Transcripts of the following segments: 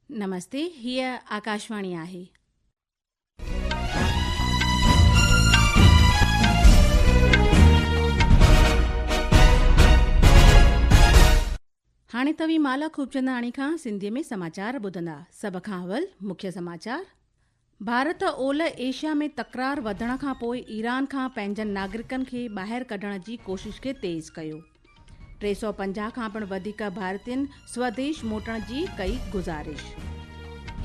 نمستي هيء آڪاشواڻي آهي. هاڻي توهين مالا خوبچنداڻي کان سنڌي ۾ سماچار ٻڌندا سڀ کان اول مکيه سماچار ڀارت اولهه ايشيا ۾ تڪرار وڌڻ کان پوء ايران کان پنهنجن ناگرڪن کي ٻاهر ڪڍڻ جي ڪوشش کي تيز ڪيو. ٽي سؤ پنجاهه کان پڻ وڌيڪ ڀارتين سوديش موٽڻ جي ڪئي گذارش.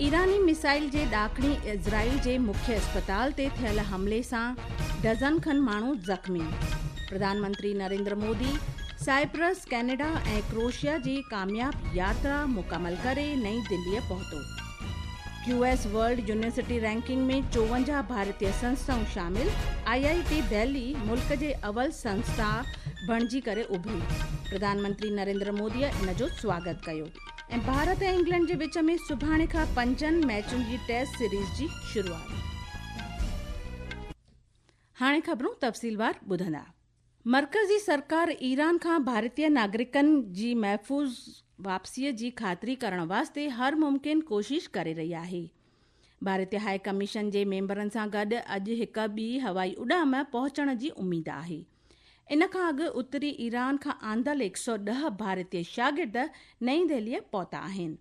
ايراني ميسائل جي ڏاڪڻي اسرائيل جي مکيه اسپتال تي ٿيل حملي سان ڊزن کن ماڻهو زخمي. پرڌان منتري Narendra Modi Cyprus, Canada ۽ Croatia جي ڪامياب ياترا مڪمل ڪري نئين دهلي پهتو. Q S world university ranking ۾ چوونجاهه ڀارتي سنسٿائون شامل، آء آء ٽي دهلي ملڪ جي اول سنسٿا بڻجي ڪري اڀري، پرڌان منتري نريندر مودي ان جو سواگت ڪيو ۽ ڀارت ۽ انگلينڊ جي وچ ۾ سڀاڻي کان پنجن ميچن جي ٽيسٽ سيريز جي شروعات. هاڻي خبرون تفصيلوار ٻڌندا. مرڪزي سرڪار ايران کان ڀارتي ناگرڪن جي محفوظ واپسيء جي خاطري ڪرڻ واسطي هر ممڪن ڪوشش ڪري رهي آهي. ڀارتي هاء ڪميشن جي ميمبرن سان گڏ اڄ هڪ ٻي هوائي اڏام پهچڻ جي اميد آهي. ان کان اڳ اتري ايران کان آندل هڪ سؤ ڏهه ڀارتي شاگرد نئين دهليء پهتا آهن.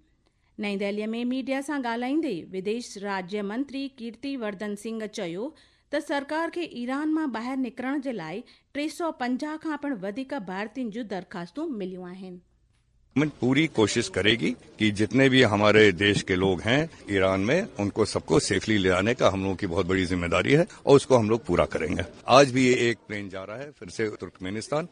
نئين دهلي ۾ ميڊيا سان ڳالهائيندي وديش راڄي منتري ڪيرتي وردن سنگهه چيو ته سرڪار کي ايران مان ٻاهر نڪرڻ جي لاء ٽي سؤ پنجاهه کان پڻ وڌيڪ ڀارتين جون درخواستون مليون آهن. گورنمينٽ پوري ڪوشش ڪري گي ڪي جتني بي هماري ديش ڪي لوگ هين ايران مين ان ڪو سب ڪو سيفلي لي آني ڪا هملون ڪي بهت بڙي زميداري هي اور اس ڪو هملوگ پورا ڪرين گي آج بي ايڪ پلين جا رها هي فر سي ترڪمينستان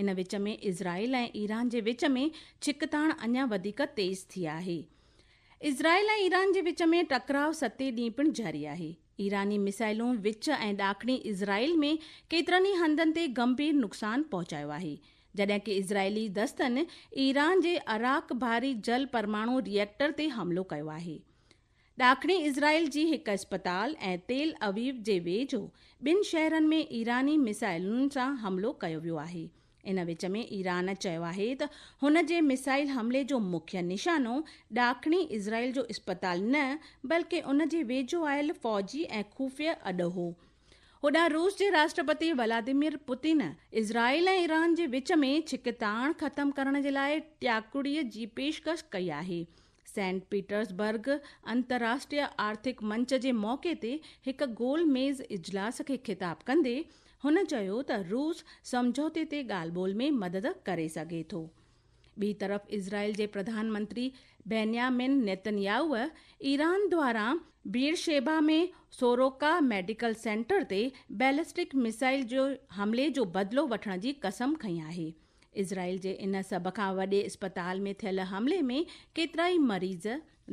ان وچ ۾ اسرائيل ۽ ايران جي وچ ۾ ڇڪتاڻ اڃا وڌيڪ تيز ٿي آهي. اسرائيل ۽ ايران جي وچ ۾ ٽڪراء ستين ڏينهن پڻ جاري آهي. ايراني ميسائلون وچ ۽ ڏاکڻي اسرائيل ۾ ڪيترن ئي هنڌن تي ڳنڀير نقصان پهچايو آهي، جڏهن ڪي اسرائيلي دستن ايران جي اراڪ بحري جل پرماڻو ري ايڪٽر تي حملو ڪيو آهي. ڏاکڻي اسرائيل جي هڪ اسپتال ۽ تيل اويو جي ويجهو ٻن شهرن ۾ ايراني ميسائلن سان حملو ڪيو ويو آهي. ان وچ ۾ ايران چيو آهي ته هن جي ميسائل حملي جو مکيه نشانو ڏاکڻي اسرائيل جو اسپتال نه بلڪه ان جي ويجهو آيل فوجي ۽ خفيه اڏو هو. هوڏانهن روس جي راشٽرپتي ولاديمير پوتين اسرائيل ۽ ايران جي وچ ۾ ڇڪتاڻ ختم ڪرڻ جي لاء ٽياڪڙي جي پيشڪش ڪئي آهي. سينٽ پيٽرز برگ انتراشٽريه آرٿڪ منچ جي موقعي تي هڪ گول ميز اجلاس کي خطاب ڪندي هن چيو ته روس سمجهوتي تي ڳالهه ٻولهه ۾ مدد ڪري سگهي ٿو. ٻي طرف اسرائيل جي پرڌان منتري بينيامين نيتنياهوء ايران دواران بيئرشيبا ۾ سوروڪا ميڊيڪل سينٽر تي بيلسٽڪ ميسائل جي حملي جو بدلو وٺڻ جي قسم کنئي آهي. اسرائيل جي ان سڀ کان وڏي اسپتال ۾ ٿيل حملي ۾ ڪيترائي مريض،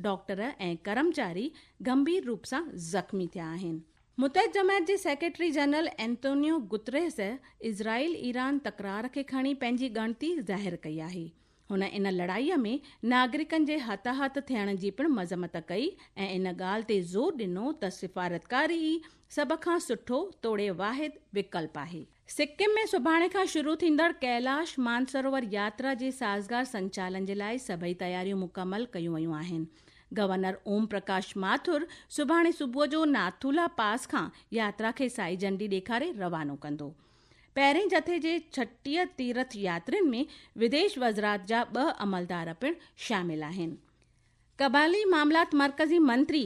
ڊاڪٽر ۽ ڪرمچاري گنڀير روپ سان زخمي ٿيا آهن. متحد جماعت جي secretary general Antonio Guterres Israel Iran تڪرار کي کڻي پنهنجي ڳڻتي ظاهر ڪئي آهي. هن ان لڙائي ۾ ناگرڪن جي هتاهت ٿيڻ جي پڻ مذمت ڪئي ۽ ان ڳالهه تي زور ڏنو ته سفارتڪاري ئي سڀ کان سٺو توڙي واحد وڪلپ آهي. سڪم ۾ سڀاڻي کان شروع ٿيندڙ ڪيلاش مانسروور ياترا جي سازگار سنچالن جي لاء سڀئي تياريون مڪمل ڪيون ويون آهن. گورنر اوم پرڪاش ماٿر سڀاڻي صبح جو ناٿولا پاس کان ياترا کي سائي جهنڊي ڏيکاري روانو ڪندو. پهرين جٿي جي ڇٽيهه تيرٿ ياترين ۾ وديش وزرات جا ٻه عملدار پڻ شامل آهن. قبائلي معاملات مرڪزي منتري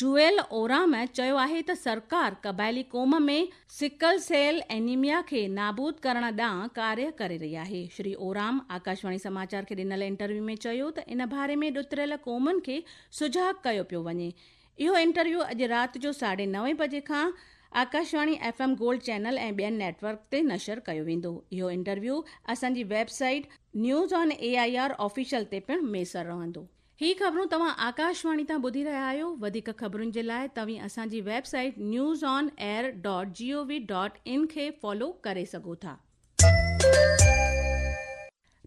جوئل اورام چيو آهي ته سرڪار قبائلي قوم ۾ سڪل سيل اينيميا کي نابود ڪرڻ ڏانهن ڪاريه ڪري رهي آهي. شري اورام آڪاشواڻي سماچار کي ڏنل انٽرويو ۾ چيو ته ان باري ۾ ڏتريل قومن کي سجاڳ ڪيو پيو وڃي. اهو انٽرويو اڄ رات جو ساڍي نوين بجي کان Akashvani F M gold channel ۽ ٻين نيٽ ورڪ تي نشر ڪيو ويندو. اهو انٽرويو اسان جي website news on A I R official تي پڻ ميسر رهندو. هي خبرون توهان آڪاش واڻي تان ٻڌي رهيا آهيو وڌيڪ خبرن جي لاء توهين اسان جي website news on air dot G O V dot in کي فالو ڪري سگهو ٿا.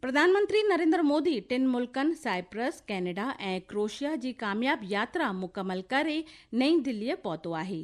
پرڌان منتري نريندر مودي ٽن ملڪن سائپرس، ڪينيڊا ۽ ڪروشيا جي ڪامياب ياترا مڪمل ڪري نئين دلي پهتو آهي.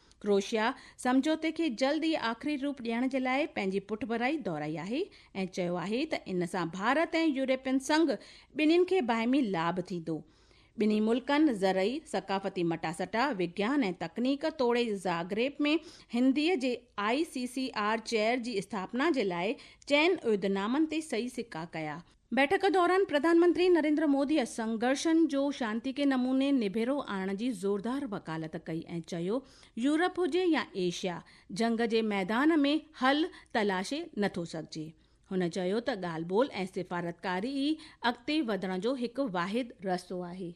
ڪروشيا سمجهوتي کي جلد ئي آخري روپ ڏيڻ جي لاء پنهنجي پٺڀرائي دهرائي آهي ۽ چيو آهي ته ان سان ڀارت ۽ يورپين سنگهه ٻنهين کي باهمي لاڀ ٿيندو. ٻنهي ملڪن زرعي، ثقافتي مٽاسٽا، وگيان ۽ تڪنيڪ توڙي زاگريب ۾ هنديء جي I C C R chair جي اسٿاپنا جي لاء چئن عهدنامن تي صحيح سڪا ڪيا. بيٺڪ دوران پرڌانمنتري نريندر موديء سنگهرشن جو شانتيڪي نموني نبيرو آڻڻ جي زوردار وڪالت ڪئي ۽ چيو يورپ هجي يا ايشيا جنگ جي ميدان ۾ حل تلاشي نٿو سگهجي. هن چيو ته ڳالهه ٻولهه ۽ سفارتڪاري ئي اڳتي وڌڻ جو هڪ واحد رستو آهي.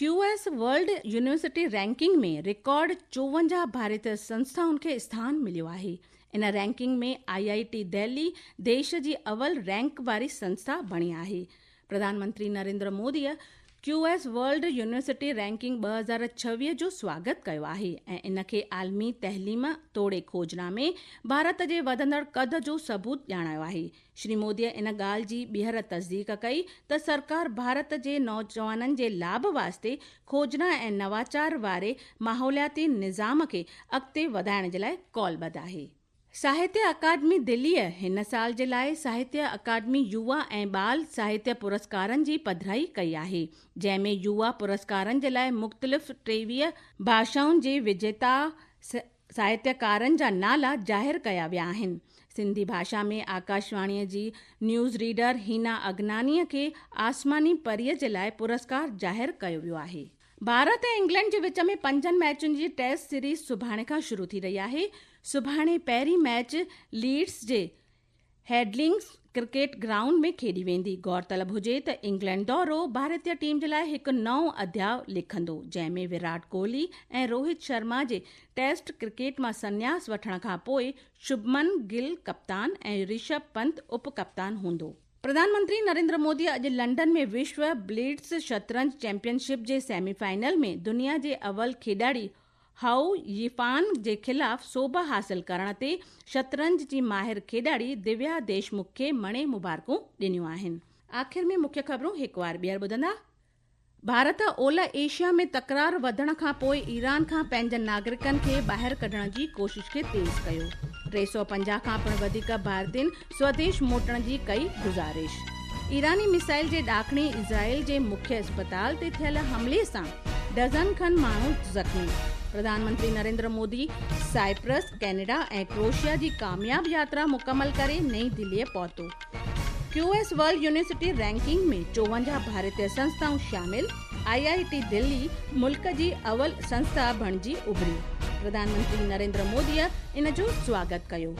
Q S world university ranking ۾ record چوونجاهه ڀاريت سنسٿائن کي اسٿان مليو آهي. ان رينڪنگ ۾ آء آء ٽي دهلي ديش جي اول رينڪ واري سنسٿا بڻي آهي. پرڌان منتري نريندر موديء Q S world university ranking ٻه هزار ڇويهه جو سواگت ڪيو آهي ۽ ان کي عالمي تعليم توڙي کوجنا ۾ ڀارت جي وڌندڙ قد جو ثبوت ڄاڻايو آهي. شري موديء ان ڳالهه جي ٻيهر تصديق ڪئي ته سرڪار ڀارت جي نوجوانن جي لاڀ واسطي کوجنا ۽ نواچار واري ماحولياتي نظام کي اڳتي وڌائڻ جي لاء قول ٻڌ آهي. ساهتيه اڪاڊمي دهليء هن سال جي لاء ساهتيه اڪاڊمي يووا ۽ ٻال ساهتيه پرسڪارن جي پڌرائي ڪئي آهي، جنهن ۾ يووا پرسڪارن جي لاء مختلف ٽيويهه ڀاشائن جي وجيتا س. ساهتيڪارن جا نالا ظاهر ڪيا ويا آهن. سنڌي ڀاشا ۾ آڪاشواڻيء جي نيوز ريڊر هينا اگنانيء کي آسماني پريء جي لاء پرسڪار ظاهر ڪيو ويو آهي. ڀارت ۽ انگلينڊ جي وچ ۾ پنجن ميچن جي ٽيسٽ سيريز سڀاڻي کان شروع ٿي رهي آهي. سڀاڻي پهرين ميچ ليڊز جي هيڊلنگز ڪرڪيٽ گرائونڊ ۾ کيڏي ويندي غورطلب هجي ته انگلينڊ دورو ڀارتيه ٽيم جي لاء هڪ نئون اڌياء لکندو جنهن ۾ وراٽ ڪوهلي ۽ روهت شرما جي ٽيسٽ ڪرڪيٽ مان سنياس وٺڻ کانپوء شڀمن گل ڪپتان ۽ رشڀ پنت اپ ڪپتان هوندو. پرڌان منتري نريندر مودي اڄ لنڊن ۾ وشو بليئرڊز شطرنج چيمپيئن شپ جي سيمي فائنل ۾ دنيا جي اول کيڏاڙي هائو يي فان جي خلاف سوڀ حاصل ڪرڻ تي شطرنج جي ماهر کيڏاڙي ديويا ديشمک کي مڻي مبارڪون ڏنيون آهن. آخر ۾ مکيه خبرون هڪ وار ٻيهر ٻڌندا. ڀارت اولهه ايشيا ۾ تڪرار وڌڻ کان پوء ايران کان پنهنجن ناگرڪن کي ٻاهر ڪڍڻ جي ڪوشش کي تيز ڪيو، ٽي سؤ پنجاهه کان پڻ وڌيڪ ڀارتين سوديش موٽڻ جي ڪئي گذارش. ايراني ميسائل جي ڏاکڻي اسرائيل جي مکيه اسپتال تي ٿيل حملي سان ڊزن کن ماڻهو زخمي، پرڌان منتري Narendra Modi Cyprus, Canada ۽ Croatia جي ڪامياب ياترا مڪمل ڪري نئين دهليء پهتو Q S world university ranking ۾ چوونجاهه ڀارتي سنسٿائون شامل، آء آء ٽي دهلي ملڪ جي اول سنسٿا بڻجي اڀري، پرڌان منتري نريندر موديء ان جو سواگت ڪيو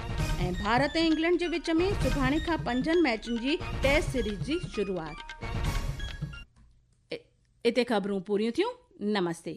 ۽ ڀارت ۽ انگلينڊ جي وچ ۾ سڀاڻي کان پنجن ميچن جي ٽيسٽ سيريز جي شروعات. اتي خبرون پوريون ٿيون. نمستي.